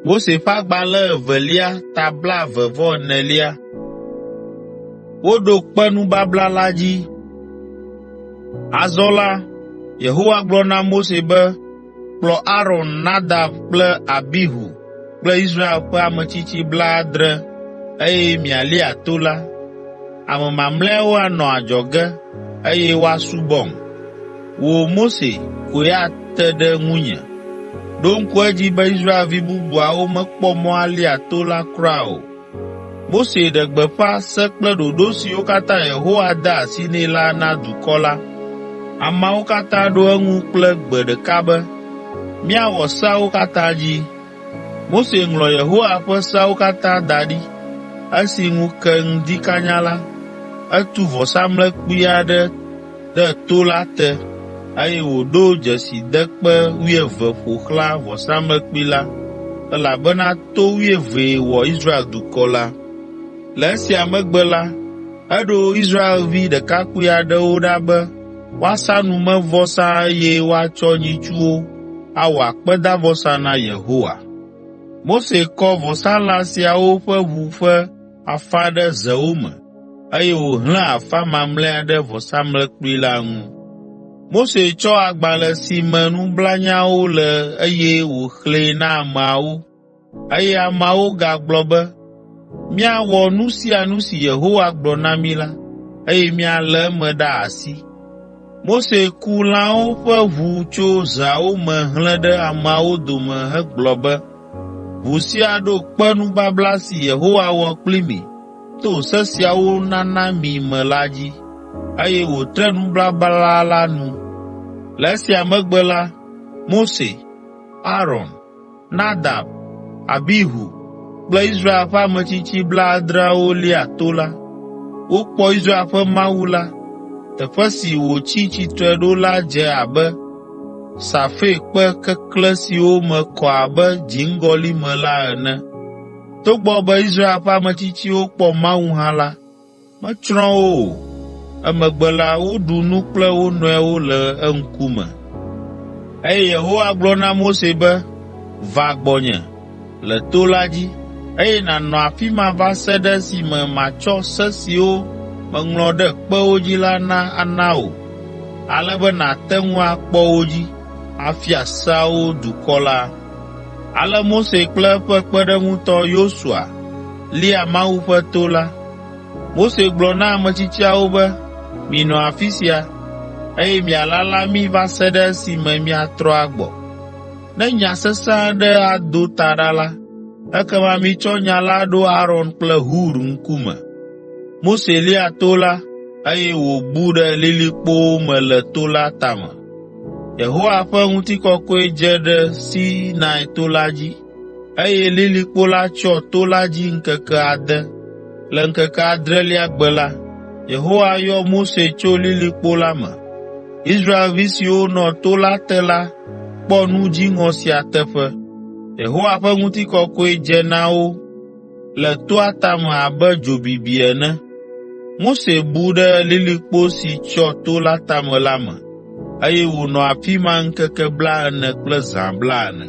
Mose ƒe agbalẽ evelia ta blaeve vɔ enelia. Woɖo kpe nubabla la dzi. Azɔ la, Yehowa gblɔ na Mose be, “Kplɔ Aron, Nadab kple Abihu kple Israel ƒe ametsitsi blaadre eye mialia to la. Ame mamlɛawo anɔ adzɔge, eye woasubɔm. Wò, Mose, koe ate ɖe ŋunye. Ɖo ŋku edzi be Israelvi bubuawo mekpɔ mɔ alia to la kura o. Mose ɖe gbeƒã se kple ɖoɖo siwo katã Yehowa de asi nɛ la na dukɔ la. Ameawo katã ɖo eŋu kple gbe ɖeka be, Míawɔ seawo katã dzi. Mose ŋlɔ Yehowa ƒe seawo katã da ɖi. Esi ŋu ke ŋdi kanya la, etu vɔsamlekpui aɖe ɖe to la te, eye wòɖo dzesidekpe wuieve ƒo xlã vɔsamlekpui la, elabena to wuievee wɔ Israel dukɔ la. Le esia megbe la, eɖo Israelvi ɖekakpui aɖewo ɖa be woasa numevɔsa eye woatsɔ nyitsuwo awɔ akpedavɔsa na Yehowa. Mose kɔ vɔsalã siawo ƒe ʋu ƒe afã ɖe zewo me eye wòhlẽ afã mamlɛa ɖe vɔsamlekpui la ŋu. Mose tsɔ agbalẽ si me nublanyawo le eye wòxlẽe na ameawo, eye ameawo gagblɔ be, “Míawɔ nu sia nu si Yehowa gblɔ na mí la, eye míalé eme ɖe asi.” Mose ku lãwo ƒe ʋu tso zeawo me hlẽ ɖe ameawo dome hegblɔ be, “Ʋu sia ɖo kpe nubabla si Yehowa wɔ kpli mi.” to se siawo nana mi me la dzi, eye wòtre nubabla la nu. Le esia megbe la, Mose, Aron, Nadab, Abihu kple Israel ƒe ametsitsi blaadreawo lia to la. Wokpɔ Israel ƒe Mawu la. Teƒe si wòtsi tsitre ɖo la dze abe safirkpe keklẽ siwo me kɔ abe dziŋgɔli me la ene. Togbɔ be Israel ƒe ametsitsiwo kpɔ Mawu hã la, metsrɔ̃ wo o. Emegbe la, woɖu nu kple wo nɔewo le eŋkume. Eye Yehowa gblɔ na Mose be, “Va gbɔnye le to la dzi, eye nànɔ afi ma va se ɖe esime matsɔ se siwo meŋlɔ ɖe kpewo dzi la na ana wò, ale be nàte ŋu akpɔ wo dzi, afia seawo dukɔ la.” Ale Mose kple eƒe kpeɖeŋutɔ Yosua lia Mawu ƒe to la. Mose gblɔ na ametsitsiawo be, “Minɔ afi sia, eye mialala mí va se ɖe esime míatrɔ agbɔ. Ne nya sesẽ aɖe ado ta ɖa la, ekema mitsɔ nya la ɖo Aron kple Hur ŋkume.” Mose lia to la, eye wòbu ɖe lilikpowo me le to la tame. Yehowa ƒe ŋutikɔkɔe dze ɖe Sinai to la dzi, eye lilikpo la tsyɔ to la dzi ŋkeke ade. Le ŋkeke adrelia gbe la, Yehowa yɔ Mose tso lilikpo la me. Israelvi siwo nɔ to la te la kpɔ nu dziŋɔ sia teƒe. Yehowa ƒe ŋutikɔkɔe dze na wo. le toa tame abe dzo bibi ene. Mose bu ɖe lilikpo si tsyɔ to la tame la me, eye wònɔ afi ma ŋkeke blaene kple zã blaene.